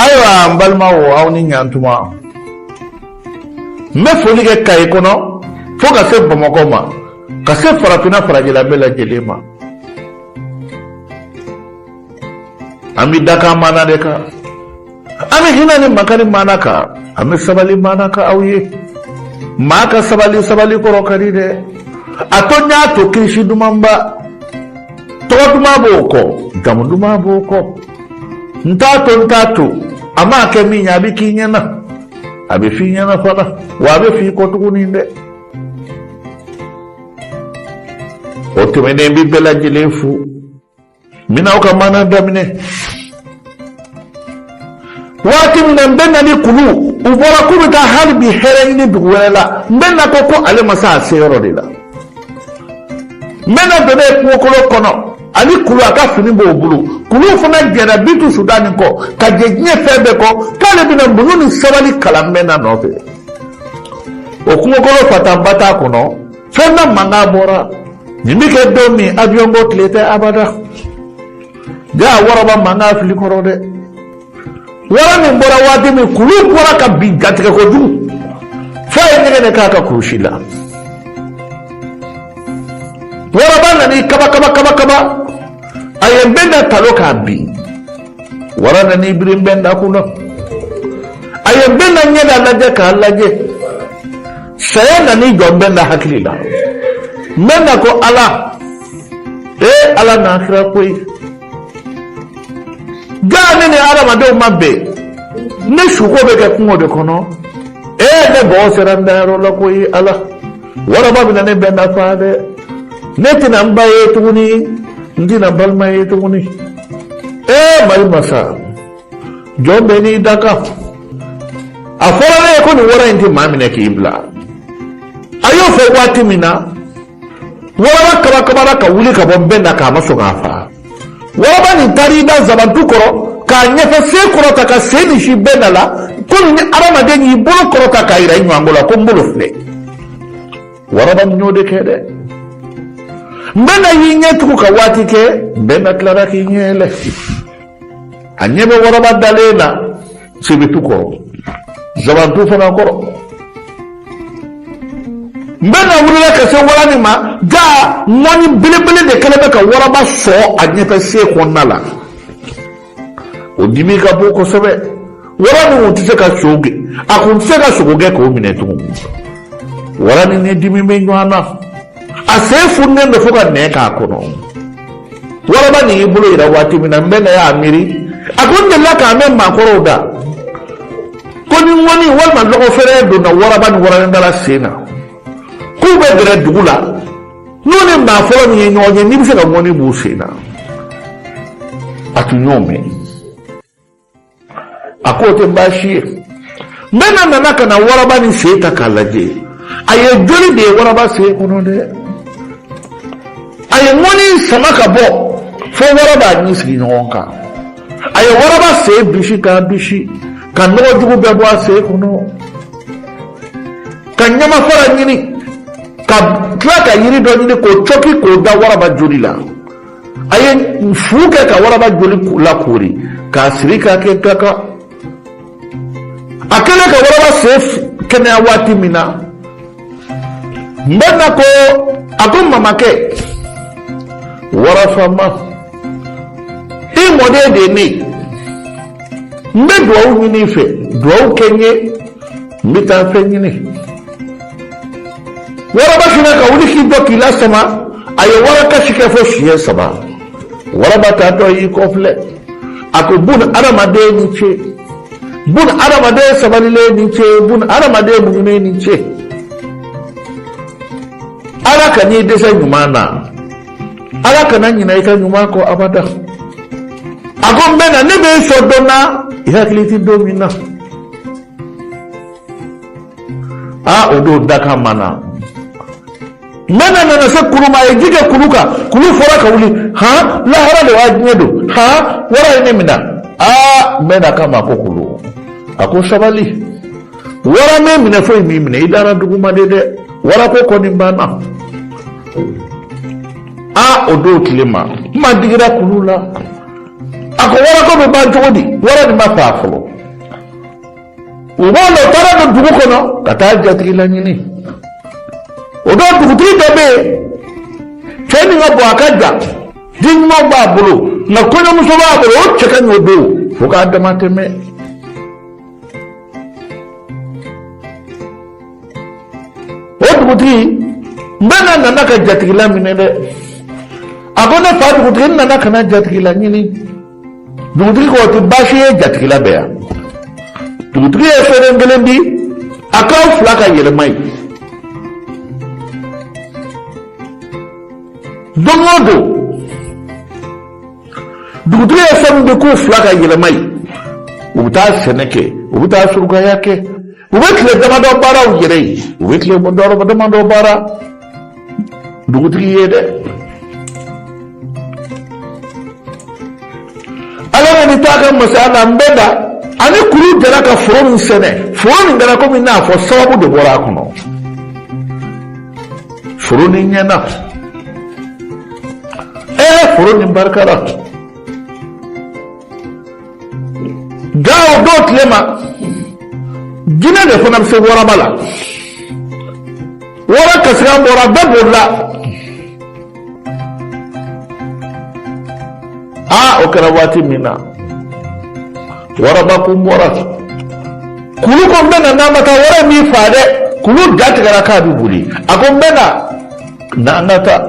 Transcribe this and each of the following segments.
ayiwa n balimaw aw ni ɲantuma n bɛ foli kɛ kayi kɔnɔ fo ka se bamakɔ ma ka se farafinna farajɛla bɛɛ lajɛlen ma an bɛ dakan maana de kan an bɛ hinɛ ni makari maana kan an bɛ sabali maana kan aw ye maa ka sabali sabali kɔrɔ ka di dɛ a to n y'a to kirisi dumanba tɔgɔ duman b'o kɔ jamu duman b'o kɔ n t'a to n t'a to a maa kɛ min ye a bɛ k'i ɲɛna a bɛ f'i ɲɛna fana wa a bɛ f'i kɔ tuguni dɛ o tɛmɛnen n bɛ bɛɛ lajɛlen fo n bɛna aw ka maana daminɛ waati min na bɛnda ni kulu u bɔra k'u bɛ taa hali bi hɛrɛ ɲini dugu wɛrɛ la bɛnda ko ko ale ma se a se yɔrɔ de la bɛnda donne kungokolo kɔnɔ ani kulu a ka fini b'o bolo kulu fana jɛra bitu sudani kɔ ka jɛ diɲɛ fɛn bɛɛ kɔ k'ale bɛna muɲu ni sabali kalan bɛnda nɔfɛ o kungokolo fatanba t'a kɔnɔ fɛn dɔ mankan bɔra nin bɛ kɛ don min awiyɔnko tile tɛ abada. Jaa waraba mankan fili kɔrɔ dɛ wara nin bɔra waati min kulu bɔra ka bin jatigɛ kojugu f'a ye ɲɛgɛnɛ k'a ka kurusi la waraba nana kaba kaba kaba kaba a ye bɛnda talon k'a bin wara nana biri bɛnda kun na a ye bɛnda ɲɛda lajɛ k'a lajɛ saya nana jɔ bɛnda hakili la bɛnda ko ala e ala n'a kira koyi jaa ne ni adamadenw ma bɛn ne suko bɛ kɛ kungo de kɔnɔ e ne bɔgɔ sera n dayɔrɔ la koyi ala waraba bɛna ne bɛnda faa dɛ ne tɛna n ba ye tuguni n tɛna balima ye tuguni e mari masa jɔn bɛɛ n'i dakan a fɔra ne ye ko nin wara in tɛ maa minɛ k'i bila a y'o fɔ waati min na waraba kabakabara ka wuli ka bɔ bɛnda kan a ma sɔn k'a faga waraba nin taara i da zabantu kɔrɔ k'a ɲɛfɛ sen kɔrɔta ka sen nin sin bɛnda la komi ni adamaden y'i bolo kɔrɔta k'a yira i ɲɔgɔnko la ko n bolo filɛ waraba nin y'o de kɛ dɛ bɛnda y'i ɲɛ tugu ka waati kɛ bɛnda tilara k'i ɲɛ yɛlɛ a ɲɛ bɛ waraba dalen na sebetu kɔrɔ zabantu fana kɔrɔ bɛnda wulila ka se wara nin ma jaa ŋɔni belebele de kɛlen bɛ ka waraba sɔɔ a ɲɛfɛ sen kɔnɔna la o dimi ka bon kosɛbɛ wara nin kun tɛ se ka sogo gɛn a kun tɛ se ka sogo gɛn k'o minɛ tugun wara nin ni dimi bɛ ɲɔgɔn na a sen fununen don fo ka nɛn k'a kɔnɔ waraba nin y'i bolo yira waati min na n bɛ na y'a miiri a ko n delila k'a mɛn maakɔrɔw da ko ni ŋɔni walima lɔgɔfɛrɛ donna waraba ni waraninkala sen na k'u bɛ gɛrɛ dugu la n'u ni maa fɔlɔ min ye ɲɔgɔn ye n'i bɛ se ka ŋɔni b'u sen na a tun y'o mɛn a k'o tɛ baasi ye n bɛna nana ka na waraba nin sen ta k'a lajɛ a ye joli de ye waraba sen kɔnɔ dɛ a ye ŋɔni sama ka bɔ fo waraba ɲin sigi ɲɔgɔn kan a ye waraba sen bisi k'a bisi ka nɔgɔ jugu bɛɛ bɔ a sen kɔnɔ ka ɲamafara ɲini ka tila ka yiri dɔ ɲini k'o cɔki k'o da waraba joli la a ye fu kɛ ka waraba joli lakoori k'a siri k'a kɛ gaka a kɛlen ka waraba sen kɛnɛya waati min na n bɛ na ko a ko mamakɛ warafama i mɔden de ye ne ye n bɛ dugawu ɲini i fɛ dugawu kɛ n ye n bɛ taa fɛn ɲini waraba fana ka wuli k'i jɔ k'i lasama a ye warakasi kɛ fo siɲɛ saba waraba taatɔ y'i kɔfilɛ a ko bun adamaden ni ce bun adamaden sabalilen ni ce bun adamaden muɲunen ni ce ala kan'i dɛsɛ ɲuman na ala kana ɲinɛ i ka ɲuman kɔ abada a ko n bɛ na ne bɛ i sɔn don na i hakili tɛ don min na aa o don dakan ma na n bɛ na nana se kulu ma a ye ji kɛ kulu kan kulu fɔra ka wuli han lahara de y'a diɲɛ don han wara ye ne minɛ aa n bɛ na k'a ma ko kulu a ko sabali wara m'e minɛ foyi m'i minɛ i dara duguma de dɛ warako kɔni banna aa o don tile ma kuma digira kulu la a ko warako bɛ ban cogo di wara nin ma faa fɔlɔ u b'a dɔn u taara don dugu kɔnɔ ka taa jatigila ɲini o don dugutigi dɔ bɛ yen cɛ nin ka bon a ka jan den ɲuman b'a bolo nka kɔɲɔmuso b'a bolo o cɛ ka ɲi o don fo k'a damatɛmɛ o dugutigi n bɛ na nana ka jatigila minɛ dɛ a ko ne fa dugutigi n nana ka na jatigila ɲini dugutigi ko o tɛ baasi ye jatigila bɛ yan dugutigi ye soden kelen di a k'aw fila ka yɛlɛma yen don o don dugutigi ye soden di k'u fila ka yɛlɛma yen u bɛ taa sɛnɛ kɛ u bɛ taa surugaya kɛ u bɛ tile damadɔ baara u yɛrɛ ye u bɛ tile damadɔ baara dugutigi ye dɛ ala ka ni taa ka masaya la nbɛnda ani kulu jɛra ka foro nin sɛnɛ foro nin kɛra komi n'a fɔ sababu de bɔra a kɔnɔ foro nin ɲɛna ɛɛ foro nin barikara nka o don tilema jinɛ de fana bɛ se waraba la wara kasikan bɔra bɛɛ bolila aa o kɛra waati min na waraba kun bɔra kulu ko nbɛnda n'an ma taa wara b'i faa dɛ kulu jatigɛra k'a bɛ boli a ko nbɛnda. na an ka taa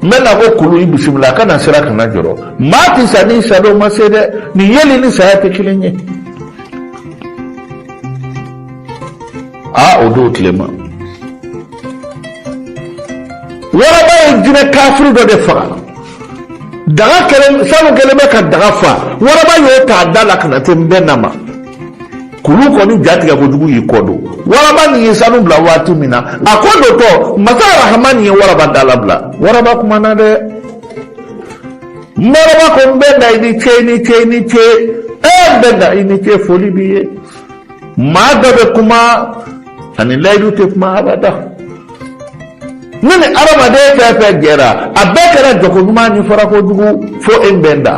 nbɛnda ko kulu i bisimila a kana siran kana jɔrɔ maa tɛ sa ni sa don ma se dɛ nin yeli ni saya tɛ kelen ye aa o don tilema waraba ye jinɛ kafiri dɔ de faga daga kelen sanu kɛlen bɛ ka daga fa waraba y'o ta a da la ka na se nbɛnda ma kulu kɔni jatigɛ kojugu y'i kɔ don waraba nin ye sanu bila waati min na a ko dotɔ masa rahamani ye waraba da labila waraba kumana dɛ waraba ko nbɛnda i ni ce i ni ce i ni ce e nbɛnda i ni ce foli b'i ye maa dɔ bɛ kuma ani layidu tɛ kuma abada ne ni adamaden fɛn fɛn jɛra a bɛɛ kɛra jɛko ɲuman ni farako jugu fo e nbɛnda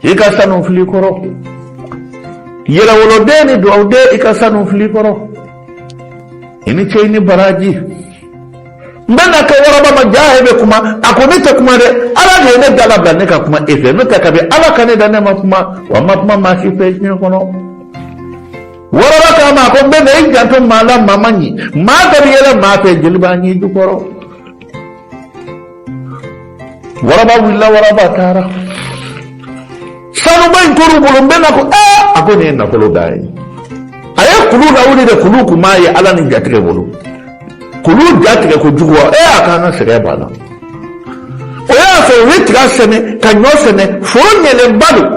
I ka sanu filɛ i kɔrɔ yɛrɛwoloden ni dugawuden i ka sanu filɛ i kɔrɔ i ni ce ni baraji nbɛnda ko waraba ma jaa e bɛ kuma a ko ne tɛ kuma dɛ ala de ye ne da labila ne ka kuma e fɛ n'o tɛ kabi ala ka ne da ne ma kuma wa n ma kuma maa si fɛ diɲɛ kɔnɔ waraba k'a ma a ko nbɛnda i janto maa la maa man ɲi maa dɔ bɛ yɛlɛ maa fɛ jeli b'a ɲin jukɔrɔ waraba wulila waraba taara sanuba in tora u bolo nbɛnda ko aa a ko nin ye nafolo dan ye a ye kulu lawuli de kulu kun b'a yaala ni jatigɛ bolo kulu jatigɛ kojugu wa ee a k'an ka sɛgɛn banna o y'a sɔrɔ u ye tiga sɛnɛ ka ɲɔ sɛnɛ foro ɲɛlenba don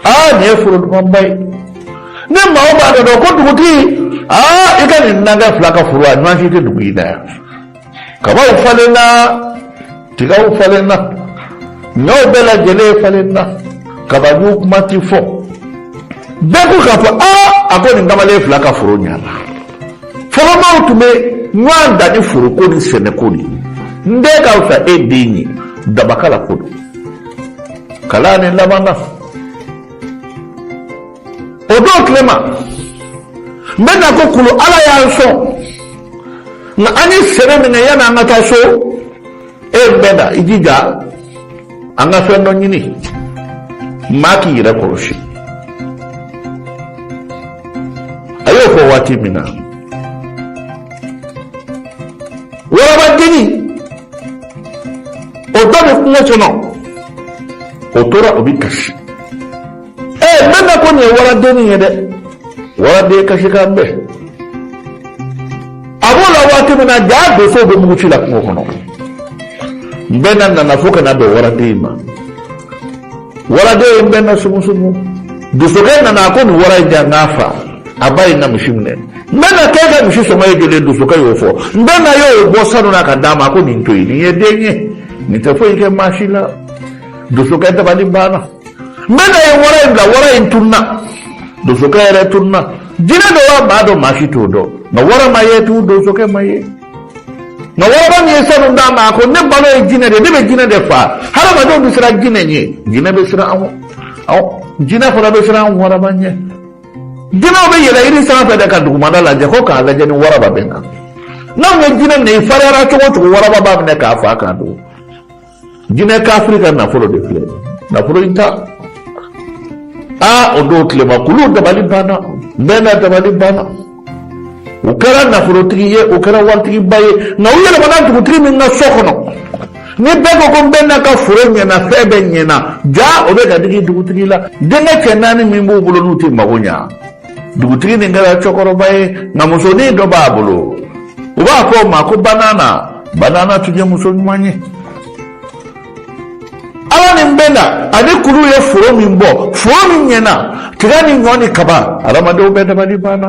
aa nin ye foro dumanba ye ni maa o maa dɔ dɔn ko dugutigi aa i ka dunankɛ fila ka foro a ɲɔgɔn si tɛ dugu in na yan kabaw falenna tigaw falenna ɲɔw bɛɛ lajɛlen falenna kabajuw kuma tɛ fɔ bɛɛ ko k'a fɔ aa a ko nin kamalen fila ka foro ɲana fɔlɔ maaw tun bɛ ɲɔgɔn dan ni foroko ni sɛnɛko de ye n den ka fisa e den ye dabakala ko don kalan ni laban na o don tilema nbɛna ko kulu ala y'an sɔn nka an ye sɛnɛ min kɛ yanni an ka taa so e bɛ na i jija an ka fɛn dɔ ɲini maa k'i yɛrɛ kɔlɔsi a y'o fɔ waati min na waraba dennin o dɔ bɛ kungo kɔnɔ o tora o bɛ kasi ɛ nbɛna ko nin ye waradennin ye dɛ waraden kasikan bɛ a b'o la waati min na jaa donsow bɛ muguci la kungo kɔnɔ nbɛna nana fo ka na bɛn waraden in ma. waraden in bɛ na sumusumu donsokɛ nana a ko nin wara in jan n'a fa a ba ye n ka misi minɛ nbɛna k'e ka misi sɔngɔ ye joli donsokɛ y'o fɔ nbɛna y'o bɔ sanu na ka d'a ma a ko nin to yen nin ye den ye nin tɛ foyi kɛ maa si la donsokɛ dabali banna nbɛna ye wara in bila wara in tunna donsokɛ yɛrɛ tunna jinɛ don wa maa don maa si t'o dɔn nka wara ma ye tugun donsokɛ ma ye nka waraba min ye sanu d'a ma a ko ne balo ye jinɛ de ye ne bɛ jinɛ de fa hadamadenw bɛ siran jinɛ ɲɛ jinɛ bɛ siran an awɔ jinɛ fana bɛ siran waraba ɲɛ jinɛw bɛ yɛlɛ yiri sanfɛ de ka dugumada lajɛ ko k'a lajɛ ni waraba bɛ na n'anw ye jinɛ minɛ i fariyara cogo o cogo waraba b'a minɛ k'a fa k'a dun jinɛ kafiri ka nafolo de filɛ nafolo in ta aa o don tilema kulu dabali banna nbɛna dabali banna u kɛra nafolotigi ye u kɛra waritigiba ye nka u yɛlɛmana dugutigi min ka so kɔnɔ ni bɛɛ ko ko nbɛna ka foro ɲɛna fɛn bɛɛ ɲɛna jaa o bɛ ka digi dugutigi la denkɛ cɛ naani min b'u bolo n'u tɛ mago ɲa dugutigi nin kɛra cɛkɔrɔba ye nka musonin dɔ b'a bolo u b'a fɔ o ma ko banana banana tun ye muso ɲuman ye ala ni nbɛna ani kulu ye foro min bɔ foro min ɲɛna tiga ni ɲɔ ni kaba adamadenw bɛɛ dabali banna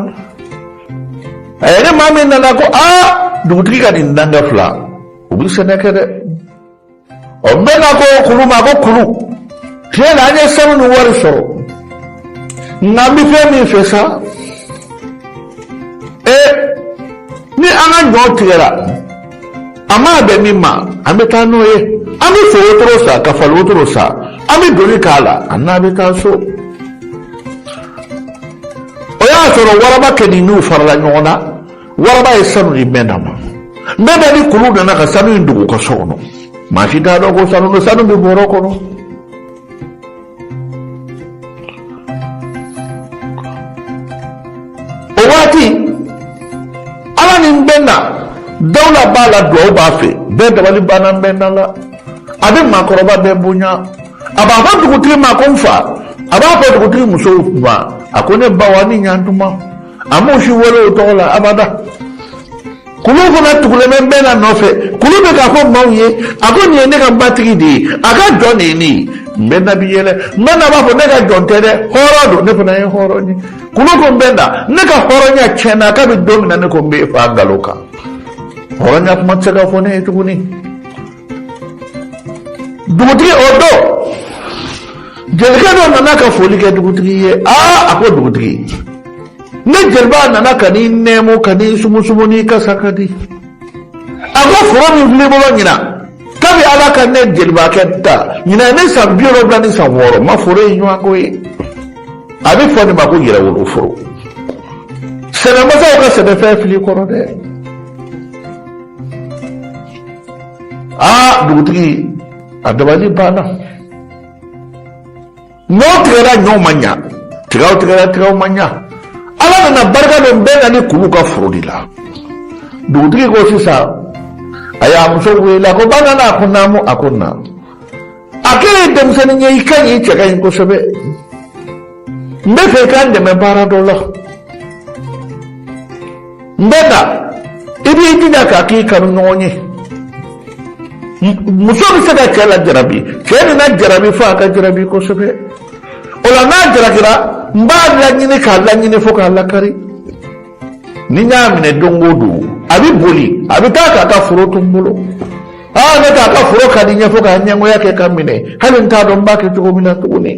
a ye ni maa min nana ko aa dugutigi ka dunankɛ fila u bɛ sɛnɛ kɛ dɛ nbɛna ko kulu ma ko kulu tiɲɛ na an ye sanu ni wari sɔrɔ nka n bɛ fɛn min fɛ sa e ni an ka ɲɔ tigɛra a mana bɛn min ma an bɛ taa n'o ye an bɛ so wotoro san ka fali wotoro san an bɛ doni k'a la an n'a bɛ taa so o y'a sɔrɔ warabakɛnin n'u farala ɲɔgɔn na waraba ye sanu di mbɛnda ma mbɛnda ni kulu nana ka sanu in dogo ka so kɔnɔ maa si t'a dɔn ko sanu don sanu bɛ bɔrɔ kɔnɔ o waati ala ni mbɛnda dawula b'a la duwawu b'a fɛ bɛɛ dabali banna mbɛnda la a bɛ maakɔrɔba bɛɛ bonya a b'a fɔ dugutigi ma ko n fa a b'a fɔ dugutigi musow ma a ko ne baw a ni ɲantuma a m'o si wele o tɔgɔ la abada kulu fana tugulen bɛ mbɛnda nɔfɛ kulu bɛ k'a fɔ maaw ye a ko nin ye ne ka matigi de ye a ka jɔn de ye ne ye mbɛnda bi yɛlɛ mbɛnda b'a fɔ ne ka jɔn tɛ dɛ hɔrɔn don ne fana ye hɔrɔn ye kulu ko mbɛnda ne ka hɔrɔnya tiɲɛna kabi don min na ne ko n bɛ fa nkalon kan hɔrɔnya kuma tɛ se ka fɔ ne ye tuguni dugutigi o don jelikɛ dɔ nana ka foli kɛ dugutigi ye aa a ko dugutigi ne jeliba nana ka n'i nɛɛmu ka n'i sumusumu n'i kasa ka di a ko foro min filɛ i bolo ɲinan kabi ala ka ne jelibakɛ da ɲinan ye ne san bi wolonwula ni san wɔɔrɔ n ma foro in ɲɔgɔn ko ye a bɛ fɔ nin ma ko yɛrɛwolo foro sɛnɛmasaw ka sɛnɛfɛn fili kɔrɔ dɛ aa dugutigi a dabali banna ɲɔ tigɛra ɲɔw ma ɲa tigaw tigɛra tigaw ma ɲa ala nana barika don mbɛnda ni kulu ka foro de la dugutigi ko sisan a y'a muso wele a ko ba nana a ko naamu a ko naamu a k'e ye denmisɛnnin ye i ka ɲi i cɛ ka ɲi kosɛbɛ n b'a fɛ i k'an dɛmɛ baara dɔ la mbɛnda i b'i jija k'a k'i kanuɲɔgɔn ye muso bɛ se ka cɛ lajarabi cɛ nin lajarabi fo a ka jarabi kosɛbɛ o la n'a jalakira n b'a laɲini k'a laɲini fo k'a lakari ni n y'a minɛ don o don a bɛ boli a bɛ taa k'a ka foro to n bolo aa ne k'a ka foro ka di n ye fo k'a ɲɛngoya kɛ ka n minɛ hali n t'a dɔn n b'a kɛ cogo min na tuguni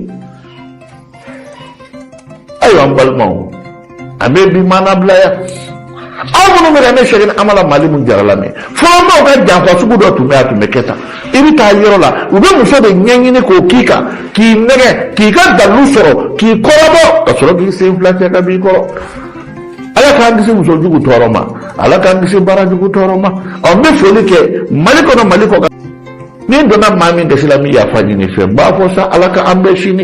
ayiwa n balimaw an bɛ bi maana bila yan aw minnu bɛ ka ne sɛkina amala malamini jara lamɛn fɔlɔ maaw ka janfa sugu dɔ tun bɛ a tun bɛ kɛ tan i bɛ taa yɔrɔ la u bɛ muso de ɲɛɲini k'o k'i kan k'i nɛgɛn k'i ka dalu sɔrɔ k'i kɔrɔbɔ ka sɔrɔ k'i sen fila cɛ ka b'i kɔrɔ ala k'an kisi muso jugu tɔɔrɔ ma ala k'an kisi baara jugu tɔɔrɔ ma ɔ n bɛ foli kɛ mali kɔnɔ mali kɔkan ni n donna maa min gasi la n bɛ yafa ɲini i fɛ n b'a fɔ sa ala ka an bɛn sini